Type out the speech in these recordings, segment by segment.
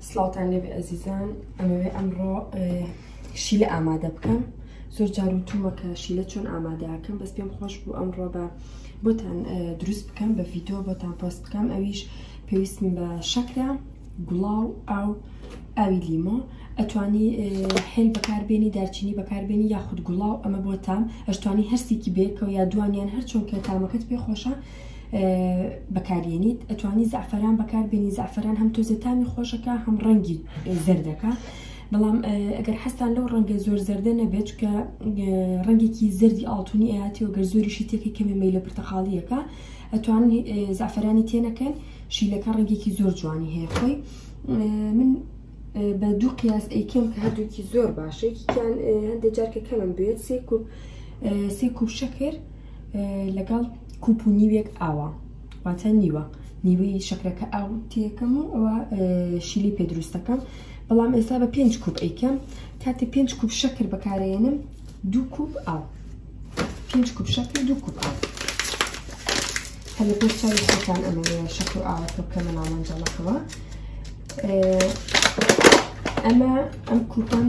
سلاوتان لێ ئەزیزان ئەمەوێ ئەمڕۆ شیلە ئامادە بکەم زۆر جار و تومەکە شیلە چۆن ئامادەکەم بەس پێم خۆش بوو ئەمڕۆ بە بۆتان دروست بکەم بە ڤیددیو بۆتان پۆست بکەم ئەویش پێویستم بە شەکرە گوڵاو ئاو ئاوی لیمۆ ئەتوانی هێل بەکاربیێنی دارچینی بەکاربیێنی یاخود گوڵاو ئەمە بۆتان ئەشتوانی هەستێکی بێکەوە یا دوانیان هەرچۆن کە تامەکەت پێ خۆشە بەکارێنیت ئەتوانی زعفران بەکار بێنی زعفران هەم تۆزە تامی خۆشەکە هەم ڕەنگی زەردەکە بەڵام ئەگەر حەستان لەو ڕەنگە زۆر زەردە نەبێت کە ڕەنگێکی زەردی ئاڵتونی ئاتی و گەر زۆریشی تێکی کەمێ مەی لە پرتەقاڵیەکە ئەتوان زعفرانی تێنەکەن شیلەکە ڕەنگێکی زۆر جوانی هەیە خۆی من بە دوو قیاس ئەیکەم کە هەردووکی زۆر باشێکیان هەندێک جارکە کەمم بێت سێ کوب سێ کوب شەکر لەگەڵ کوپ و نیوێک ئاوا واتە نیوە نیوەی شەکرەکە ئاو تێکەم و ئەوە شیلی پێ دروستەکەم بەڵام ئێستا بە پێنج کوپ ئەیکەم کاتێ پێنج کوپ شەکر بەکارێنم دوو کوپ ئاو پێنج کوپ شەکر دوو کوپ ئاو هە لە پێش چاوی خۆتان ئەمە شەکر و ئاوەکە بکەمە ناوەنجەڵەکەوە ئەمە ئەم کوپم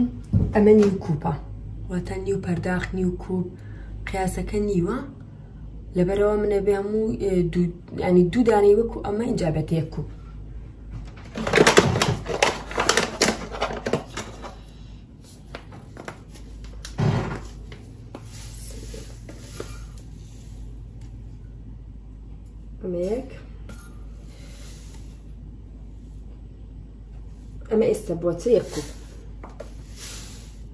ئەمە نیو کوپە واتە نیو پەرداخ نیو کوپ قیاسەکە نیوە لەبەرەوە منە بێ هەموو ینی دوو دانەی وەکو ئەمە اینجا بێت یەک کوپ ئەمەیەک ئەمە ئێستا بۆچە یەک کوپ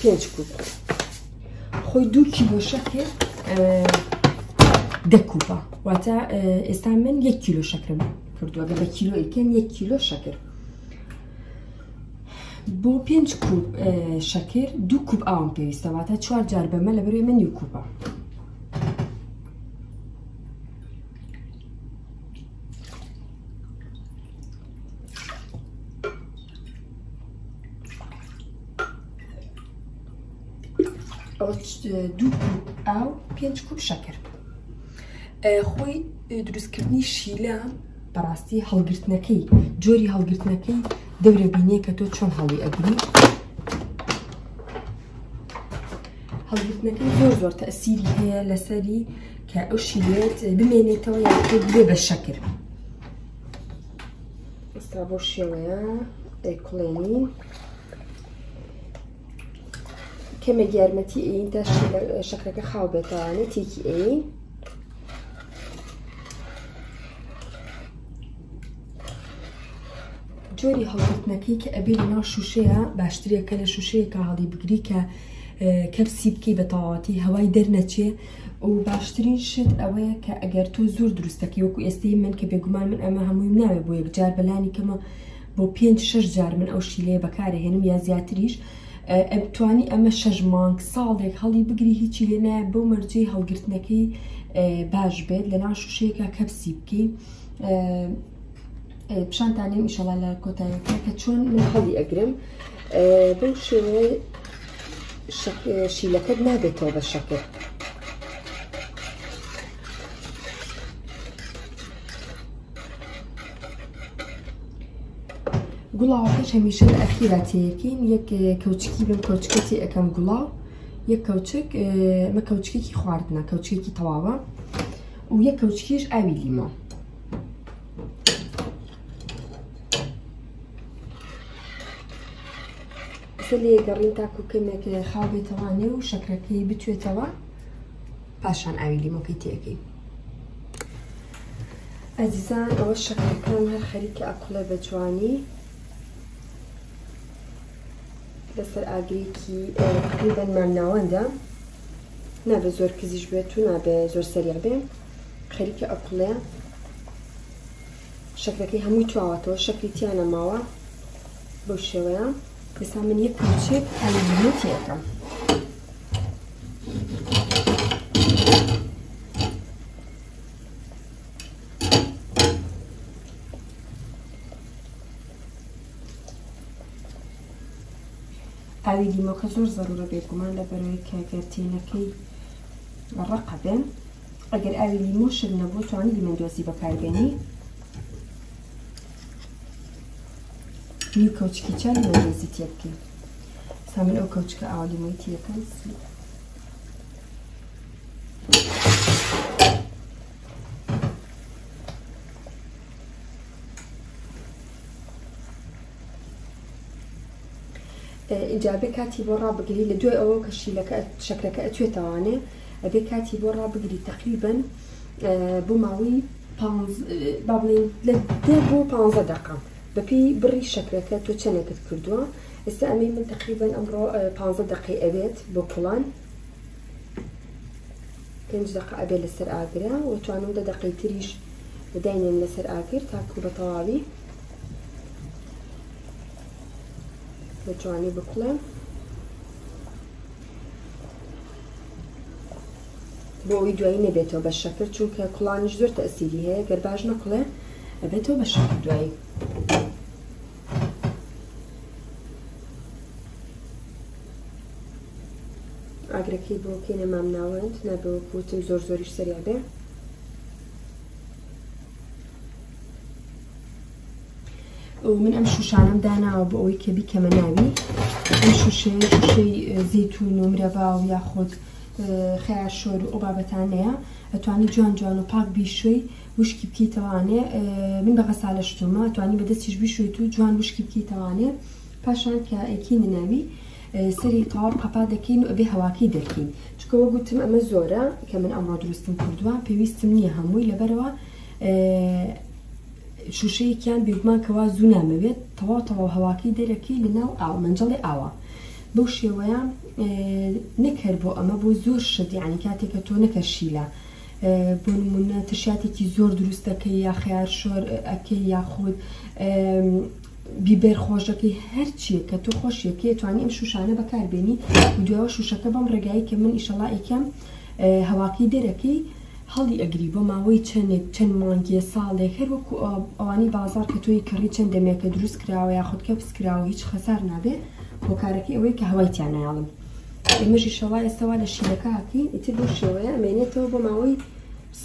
پێنج کوپ خۆی دوو کیلۆ شەکر دە کوپە واتە ئێستا من یەک کیلۆ شەکرم کردووە گە بە کیلۆ ئیکەن یەک کیلۆ شەکر بۆ پێنج کوپ شەکر دوو کوپ ئاوم پێویستە واتە چوار جار بەمە لە بەرێ من نیو کوپە دوو ئاو پێنج کوپ شەکر خۆی دروستکردنی شیلە بەڕاستی هەڵگرتنەکەی جۆری هەڵگرتنەکەی دەورە بینێ کە تۆ چۆن هەڵی ئەگری هەڵگرتنەکەی زۆر زۆر تەسیری هەیە لەسەری کە ئەو شیرێت بمێنێتەوە یاخود بێ بە شەکر ئستا بۆ شێوەیە دەیکڵێنی کەمێک یارمەتی ئەین تا شەکرەکە خاو بێتوانێت تێکی ئەین جۆری هەڵگرتنەکەی کە ئەبێ لە ناو شووشەیە باشترە کە لە شووشەیەکە هەڵی بگری کە کەپسی بکەی بە تەواتی هەوای دەرنەچێ و باشترین شت ئەوەیە کە ئەگەر تۆ زۆر دروستەکەی وەکو ئێستەی من کە بێگومان من ئەمە هەمووی ناوێ بۆ یەکجار بەلانی کەمە بۆ پێنج شش جار من ئەو شیلەیە بەکارهێنم یا زیاتریش توانی ئەمە شش مانگ ساڵێک هەڵی بگری هیچی لێ نایە بۆ مەرجەی هەڵگرتنەکەی باش بێت لە ناو شوشەیەکە کەپسی بکەی پیشانتان نیم ئیشەڵا لە کۆتایەکە کە چۆن من هەڵی ئەگرم بەو شێوەیە شیلەکەت نابێتەوە بە شەکر گوڵاوەکەش هەمیشە لە ئەخیرا تێیەکەین یەک کەوچکی بم کەوچکەتی ئەەکەم گوڵاو یەک کەوچک مە کەوچکێکی خواردنە کەوچکێکی تەواوە و یەک کەوچکیش ئاوی لیمە کە لێگەڕین تاکو کەمێک خاو بێتەوانێ و شەکرەکەی بتوێتەوە پاشان ئاوی لیمۆکەی تێەکەی ئەزیزان ئەوە شەکرەکان هەر خەریکە ئەقلە بە جوانی لەسەر ئاگرێکی تقریبەن مامناوەندە نابێت زۆر کزیش بێت و نابێت زۆر سەریع بێ خەریکە ئەکوڵێ شەکرەکەی هەمووی تواوەتەوە شەکری تیا نەماوە بەو شێوەیە ئێستا من یەک کچێک ئەلەکەم ئاوی لیمۆکە زۆر زەرورە بێگومان لە بەرەوەی کەگەرتێنەکەی ڕەقە بێن ئەگەر ئاوی لیمۆ شل نەبوو توانی لیمەن دۆزی بەکاربێنی نیو کەوچکی چا لیمەن دۆزی تێ بکەین سا من ئەو کەوچکە ئاوا لیمۆی تێەکەم ئینجا ئەبێ کاتی بۆ ڕابگری لە دوای ئەوە کە شیلەکە شەکرەکە ئەتوێتەوانێ ئەبێ کاتی بۆ ڕابگری تقریبن بۆ ماوەی با بڵێن لە دە بۆ پ دقام بەپی بڕی شەکرەکە تۆ چەندێکت کردووە ئێستا ئەمەی من تقریبن ئەمڕۆ پ دقی ئەوێت بۆ کوڵان پێنج دەقە ئەبێ لەسەر ئاگرا وە توانم دە دەقەی تریش داینێم لەسەر ئاگر تاکو بە تەواوی بە جوانی بکڵێم بۆ ئەوی دوایی نەبێتەوە بە شەکر چونکە کوڵانیش زۆر تەسیری هەیە گەر باش نەکڵێ ئەبێتەوە بە شەکر دوایی ئاگرەکەی بۆ کەینە مامناوەند نابێ وەکو وتم زۆر زۆریش سەریا بێ من ئەم شوشانم داناوە بۆ ئەوەی کە بیکەمە ناوی ئەم شوشەیە شوشەی زیتون و مرەبا و یاخود خیا شۆر و ئەو بابەتانەیە ئەتوانی جوان جوان و پاک بیشوی وشکی بکەیتەوە ئەنێ من بە غەسالە شتومە توانی بەدەستیش بشوێت و جوان وشکی بکەیتەوانێ پاشان کە ئەکی نەناوی سەری تەواو قەپا دەکەین و ئەبێ هەواکەی دەرکەین چکەوە گوتم ئەمە زۆرە کە من ئەمڕۆ دروستم کردووە پێویستم نییە هەمووی لەبەرەوە شوشەیەکیان بێگومان کەوا زوو نامەوێت تەواو تەواو هەواکەی دەرەکەی لە ناو ئاو منجڵی ئاوە بەو شێوەیە نەکەر بۆ ئەمە بۆ زۆر شت یعنی کاتێکە تۆ نەکەشیلە بۆ نموونە ترشاتێکی زۆر دروست دەکەی یا خەیار شۆر ئەکەی یاخود بیبەر خۆشەکەی هەرچیە کە تۆ خۆشیەکەی توانی ئەم شوشانە بەکاربێنی دوێەوە شوشەکە بەم ڕێگایی کە من ئیشەڵائیکەم هەواکەی دەرەکەی هەڵی ئەگری بۆ ماوەی چەندێک چەند مانگیە ساڵێک هەر وەکو ئەوانی بازار کە تۆی کڕی چەند دەمێکە دروست کراوە یاخود کە پسکراوە هیچ خەسار نابێ هۆکارەکەی ئەوەی کە هەوای تیانایڵم ئێمەژیشە وا ئێستا وا لە شیلەکە هاتین ئیتر بەو شێوەیە ئەمێنێتەوە بۆ ماوەی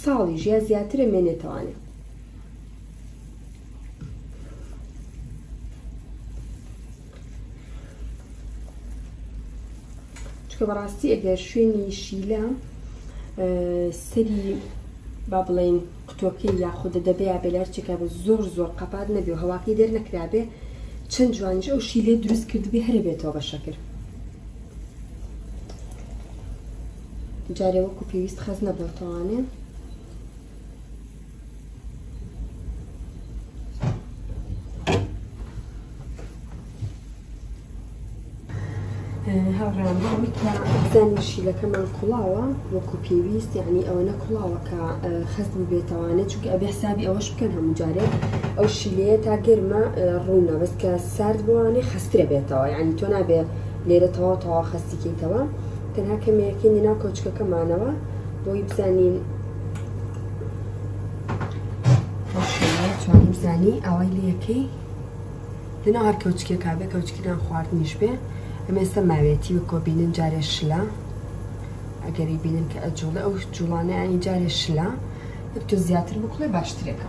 ساڵی ژیا زیاتر ئەمێنێتەوانێ چکە بەڕاستی ئەگەر شوێنی شیلە سەری با بڵێین قوتوەکەی یاخودە دەبێا بێ لەرچێکابێ زۆر زۆر قەپات نەبێ و هەواکەی دەرنەکرابێ چەند جوانیش ئەو شی لێ دروست کردبێ هەرە بێتەوە بە شەکر جارێ وەکو پێویست خەز نەبێتەوانێ هاوڕێیان بڵێم کە دانی شیلەکەمان کوڵاوە وەکو پێویست یعنی ئەوەنە کوڵاوە کە خەست ببێتەوانێت چونکە ئەبێ حسابی ئەوەش بکەن هەموو جارێک ئەو شیلەیە تا گەرمە ڕوونە بەس کە سارد بوانێ خەسترە بێتەوە یعنی تۆ نابێ لێرە تەواو تەوا خەستیکەیتەوە تەنها کەمەیەکەی ناو کەوچکەکەمانەوە بۆی بزانین بزانی ئەوەی لەکەی لەناو هەر کەوچکێ کا بێ کەوچکی نان خواردنیش بێ ئەمە ئێستا ماوێتی وەکۆ بینن جارێ شلە ئەگەری بینن کە ئەجوڵێ ئەو جوڵانە ئەنی جارێ شلە یەک تۆ زیاتر بکڵێ باشترێکە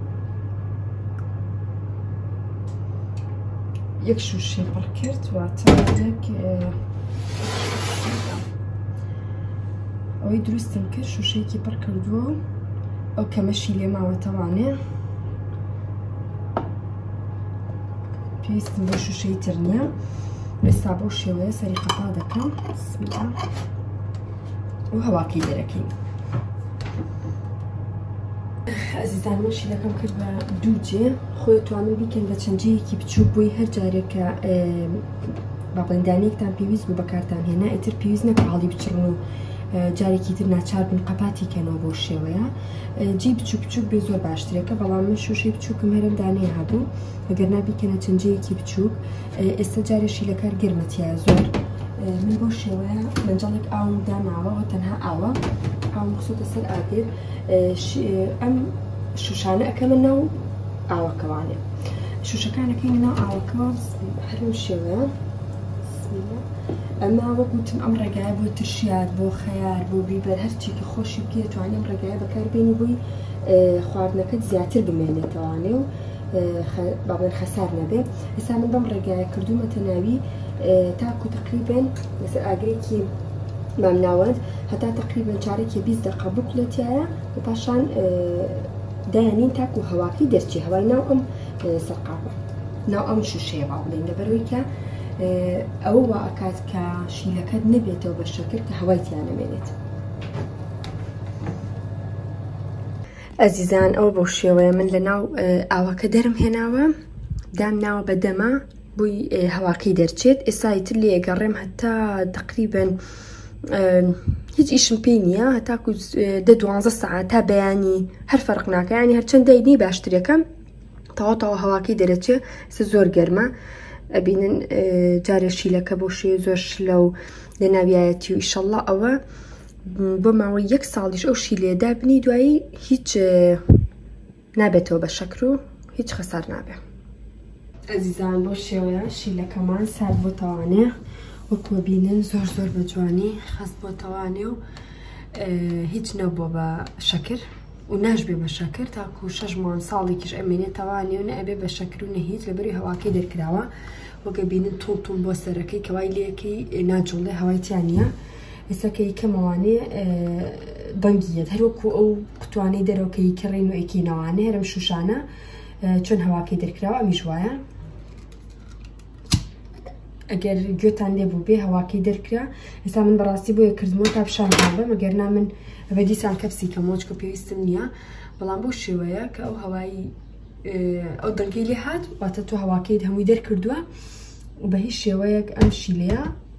یەک شوشەی پڕ کرد واتە یەک ئەوەی دروستم کرد شوشەیەکی پڕ کردووە و ئەو کەمەشی لێ ماوەتەوانێ پێویستم بۆ شوشەی تر نییە ئێستا بۆ شێوەیە سەری قەپا دەکەم بسم الله و هەواکەی دەرەکەی ئەزیزان من شیلەکەم کرد بە دوو جێ خۆی توانە بیکەن بە چەند جەیەکی بچوو بووی هەر جارێکە باڵندانێکتان پێویست بوو بەکارتان هێنا ئیتر پێویست نە پاڵی بچڕن و جارێکی تر ناچار بن قەپاتی کەنەوە بۆ شێوەیە جی بچوو بچووک بێ زۆر باشترێکە بەڵام من شوشەی بچووکم هەرم دانێ هەبوو ئەگەر نابیکەنە چەندجەیەکی بچووک ئێستا جارێ شیلەکە گەرمە تیا زۆر من بۆ شێوەیە مەنجەڵێک ئاوم داماوەەوە تەنها ئاوە ئاوم خسۆتە سەر ئاگر ئەم شوشانە ئەەکەمە ناو ئاوەکەوانێ شوشەکانەکەی ناو ئاوەکە هەرم شێوەیە ئەمە وەکوتم ئەم ڕێگای بۆ ترشیار بۆ خەیار بۆ بیبەر هەرچێکی خۆشی بکێتوانیم ڕێگای بەکاربێنی بووی خواردنەکەت زیاتر بمێنێتەوانێ و با بڵێن حەسار نەبێ ئێستا من بەم ڕێگایە کردوومەتە ناوی تاکو تقریبن لەسەر ئاگرێکی مامناوەند هەتا تقریبن چارێکی بیست دقە بکڵێتایە و پاشان دایانین تاکو هەواکەی دەرچی هەوای ناو ئەم سەرقاپە ناو ئەم شوشەیە با بڵێن لەبەرەوەی کە ئەوە وا ئەکات کە شیلەکەت نەبێتەوە بە شەکر کە هەوای تیانەمێنێت ئەزیزان ئەوە بەو شێوەیە من لە ناو ئاوەکە دەرم هێناوە دام ناوە بە دەما بووی هەواکەی دەرچێت ئێسای تر لێ گەڕێم هەتا تقریبن هیچ ئیشم پێ نییە هەتاکو دە دوانزە سەعات تا بەیانی هەر فەرق ناکەیانی هەرچەند دەینی باشترەکەم تەواو هەواکەی دەرەچێ سە زۆر گەرمە ئەبینن جارێ شیلەکە بۆ شێ زۆر شلە و لە ناویایەتی و ئیشەڵە ئەوە بۆ ماوەی یەک ساڵیش ئەو شی لێدا بنی دوایی هیچ نابێتەوە بە شەکر و هیچ خەسار نابێت ئەزیزان بۆ شێوەیە شیلەکەمان سارد بۆ تەوانەیە وەکوە بینن زۆر زۆر بە جوانی خەست بۆ تەوانێ و هیچ نەبووە بە شەکر و ناشبێ بە شەکر تاکو شەش مان ساڵێکیش ئەمێنێت تەوانێ و نەبێ بە شەکر و نەهیت لەبەری هەواکەی دەرکراوە وەگە بینن تون تون بۆ سەرەکەی کەوای لەکەی ناجوڵێ هەوای تیانە هسەکەی کەمەوانێ دەنگیت هەروەکو ئەو قوتوانەی دەرەوەکەی کڕین و ئەکینەوانە هەرم شوشانە چۆن هەواکەی دەرکراوە ئەمیش وایە ئەگەر گوێتان لێ بوو بێ هەواکەی دەرکرا ئێستا من بەڕاستی بۆیە کردمەوە تا پیشان بە مەگەر نا من بەدیسان کەپسی کە مۆچکە پێویستم نییە بەڵام بۆ شێوەیە کە ئەو هەوایی ئەو دەنگی لێ هاات واتە تۆ هەواکەیت هەمووی دەرکردووە بە هیچ شێوەیەک ئەم شیلەیە